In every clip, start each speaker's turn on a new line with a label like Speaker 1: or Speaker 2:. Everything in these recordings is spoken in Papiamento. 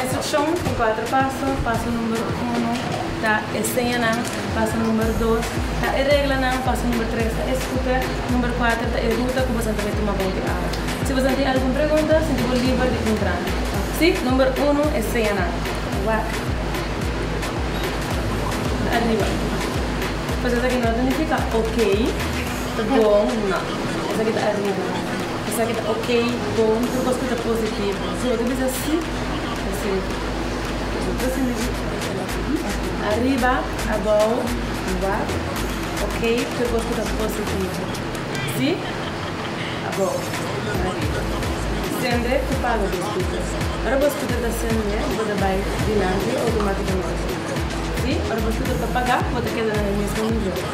Speaker 1: Instruccion cu cuatro paso, Paso number uno ta e señanan, paso number dos ta e reglanan, paso number tres ta e scooter, number cuatro ta e ruta cu boso tabata tuma bay di awa. Si boso tin algun pregunta, sinti bo liber di puntra. Si, number uno e señanan. Wak. Ta ariba. Cos esaki no ta nifica ok, ta bon, no. Esaki ta ariba. Esaki ta ok, bon, tur kos ku ta positivo. Si otro bisa si, ta sirbi. Nos otro sende di Jesús. Ariba, abou, riba, ok, tur kos ku ta positivo. Si, abou, ariba. Sende ku palo di skuter. Ora bo skuter ta sende, bo ta bai dilanti outomátikamente. Si, ora bo skuter ta pagá, bo ta keda na e mesmu nivel.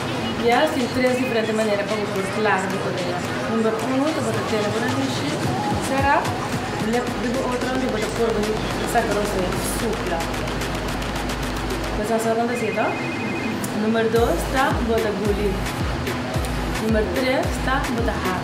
Speaker 1: I a sin tres diferente manera pa bo por klar bo orea. Number uno ta bota tela bo na mishi, sera lep di bo otro hondi bo ta por bo saka los den, supla. Bo sa asagon ta hasié to? Number dos ta bo ta guli. Number tres ta bo ta hap.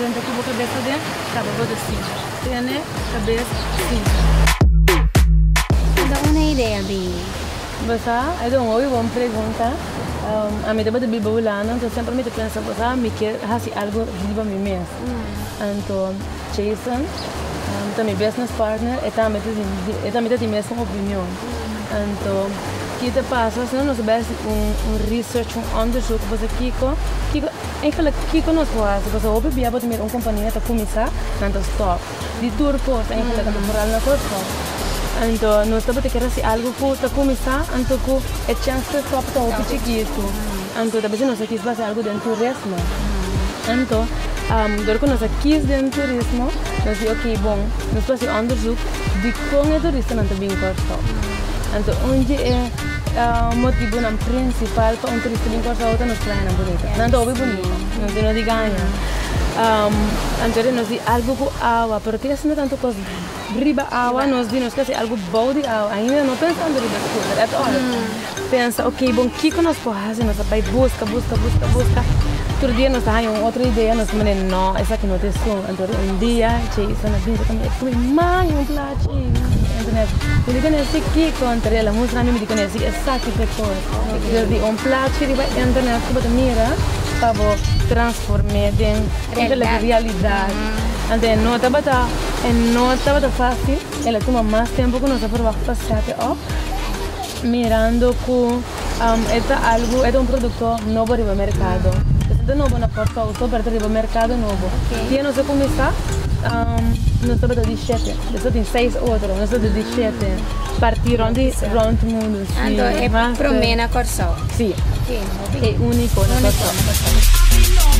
Speaker 1: Renta ku bo kabes aden kaba bo ta sinti. Tene kabes sinti. Tabata una idea bibi. Bosa a don hopi bon pregunta. Ami tabata biba Hulanda anto semper mi ta pensa bosa mi kier hasi algu riba mi mes. Anto Jason ta mi business partner e tambe ta tin e tambe ta tin mesun opinion. Anto ki ta pasa si nos a bai hasi un research un onderzoek bosa kiko kiko. Eigenlijk kiko nos por hasi pasobra hopi bia bo ta mira un kompania ta kuminsá nan ta stòp di tur kos eigenlijk ata por alma ku stòp anto nos tabata kier hasi algu ku ta kuminsá anto ku e chèns pa e stòp ta hopi chikitu anto ta bese nos a kis pa hasi algu den turismo anto dor ku nos a kis den turismo nos di oke bon nos por hasi onderzoek dikon e turistanan ta bin ku a stòp anto un di e. Motibunan prinsipal pa un turista bin Kòrsou ta nos playanan bunita. Nan ta hopi bunita. Nan tin hopi gaña. Anto di nos di algu ku awa, pero tin asinta tantu kos riba awa, nos di nos ke hasi algu bou di awa. Ainda no pensando riba scooter at all. Pensa, ok, bon, kiko nos por hasi? Nos a bai buska, buska, buska, buska. Tur dia nos ta haña un otro idea, nos ta manda, nò, esaki no ta esun. Pero un dia Jason a bisa pa mi, e scumi man un plachi. Entonces mi a bisa, mi di conoci Kiko, entonces el a mustra mi, mi di conoci esaki pecor. Pero di un plachi riba internet cu bo ta mira pa bo transforme den realidad. Entonces e no tabata, e no tabata facil, el a tuma mas tempo cu nos a proba hasta set e up, mirando cu. E ta algu, e ta un produkto nobo riba merkado. Esei ta nobo na Port Souto, pero ta riba merkado nobo. Dia nos a kuminsá, nos tabata di shete. Despues tin seis otro, nos tabata di shete, partí rònt di, rònt mundu, sí. Anto e promé na Kòrsou? Sí. Oké, no bigdi. E úniko na Kòrsou. Úniko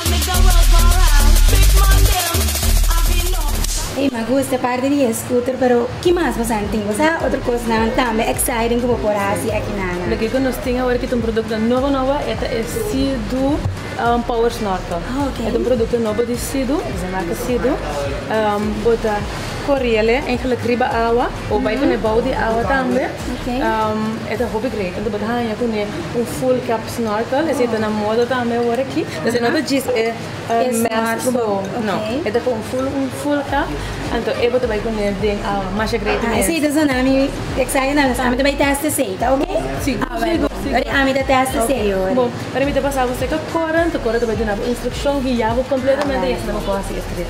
Speaker 1: na Kòrsou. Ey, m'ha gusta parte di e scooter, pero Ki mas boso a tin? Boso a ha otro cosnan tambe exciting cu bo por haci aki na na? Lo kico nos tin awor aki ta un producto nobo nobo, e ta e Sea-Doo Power Snorkel. Ah, ok. E ta un producto nobo di Sea-Doo, cu se maka Sea-Doo. Bo ta coriele eigenlijk riba awa o bay cune bou di awa tambe. Ok. E ta hopi great, anto bo ta hanja cune un full cap snorkel, esey ta na moda tambe awor aki. Esey no ta djis e. Es mes bo no e ta con full un full ka anto e bo ta bay cune den a masha great mes. Esey ta sona mi excited na ami ta bay test esey ta ok awer bo ori ami ta test esey ori. Bo ora mi ta pasa bo seca Cora anto Cora ta bay duna bo instruccion guia bo completamente y asina bo por haci e trip.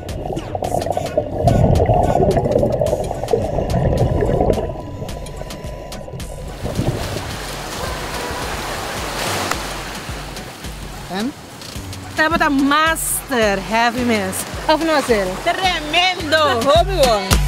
Speaker 1: Tabata master heavy mes, of no Azel? Tremendo! Hopi bon!